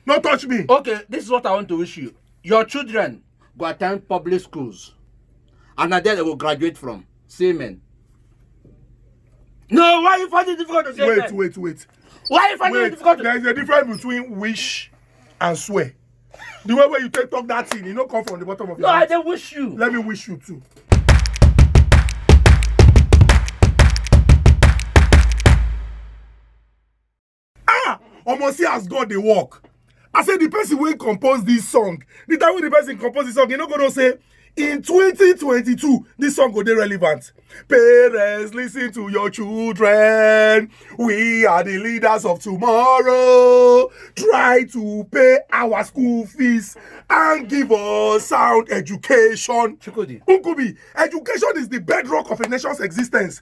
No touch me. Okay, this is what I want to wish you. Your children go attend public schools. And na there they go graduate from. See amen. No, why you find it difficult to say Wait, amen? wait, wait. Why you find it Wait, difficult to there is a difference between wish and swear. The way wey you take talk that thing, e no come from the bottom of No, your I heart. dey wish you. Let me wish you too. ah omo see as god dey work i say the person wey compose this song the time wey the person compose the song you no go know say in 2022 this song go dey relevant parents listen to your children we are the leaders of tomorrow try to pay our school fees and give us sound education Chukudi. nkubi education is the bedrock of a nation's existence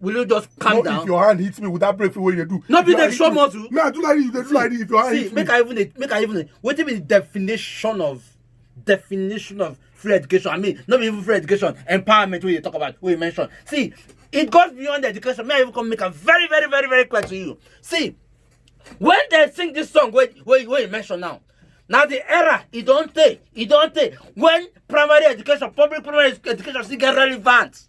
will you just calm no, down. if your hand hit me with that break wey you do. no be dey show muscle. me i do like this you dey do like this if your hand see, hit me. see make i even dey make i even dey wetin be the definition of definition of free education i mean no be even free education empowerment wey you talk about wey you mention see it goes beyond education may i even come make am very very very very clear to you see when they sing this song wey wey wey you mention now na the era e don tey e don tey when primary education public primary education still get relevant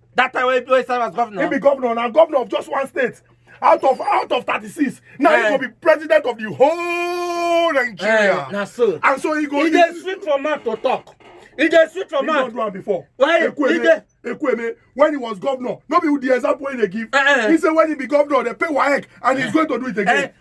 that time wey wey serve as governor. he be governor na governor of just one state out of out of thirty-six na he go eh. be president of the whole nigeria. Eh, na so and so he go. e dey sweet for mouth to talk e dey sweet for mouth. he don do am before. why e dey. Ekweme, when he was governor, nobody would the example when they give. Uh-uh. He said when he be governor, they pay WAEC and he's uh-uh. going to do it again. Uh-uh.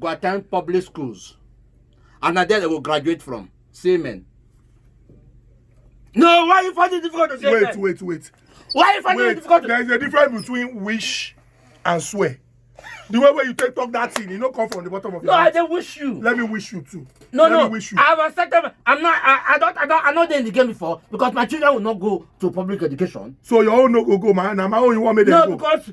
go attend public schools and na there they go graduate from see men. no why you find it difficult to say wait, men. wait wait wait. why you find wait, it difficult to. there is a difference between wish and swear the way wey you take talk that thing e no come from the bottom of your no, heart. no i dey wish you. let me wish you too. no let no wish you. i have accepted i'm not i i don i don i no dey in the game before because my children will not go to public education. so your own no go go ma na my own you wan make dem no, go. no because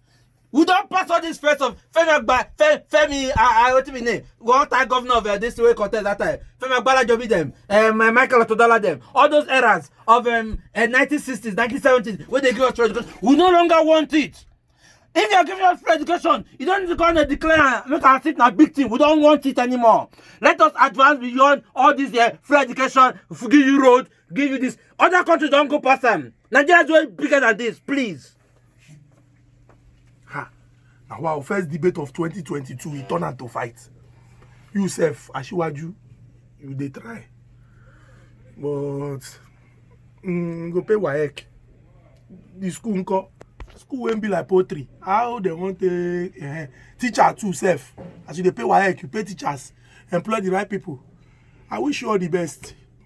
we don pass all this first of femi agba Fe- femi ah ah wetin be name one time governor of uh, this way contest that time femi agbalajobi dem um, uh, michael otodola dem all those eras of um, uh, 1960s 1970s wey dey give us free education we no longer want it if you are giving us free education you don need to come and declare am make our seat na big thing we don want it anymore let us advance beyond all this uh, free education give you road give you this other countries don go pass am nigeria is way bigger than this please. ha na wow first debate of 2022 e turn am to fight you sef asiwaju you dey try but mm, go pay waec the school nko school wey be like poultry how dem wan take uh, teacher too sef as you dey pay waec you pay teachers employ the right people i wish you all the best.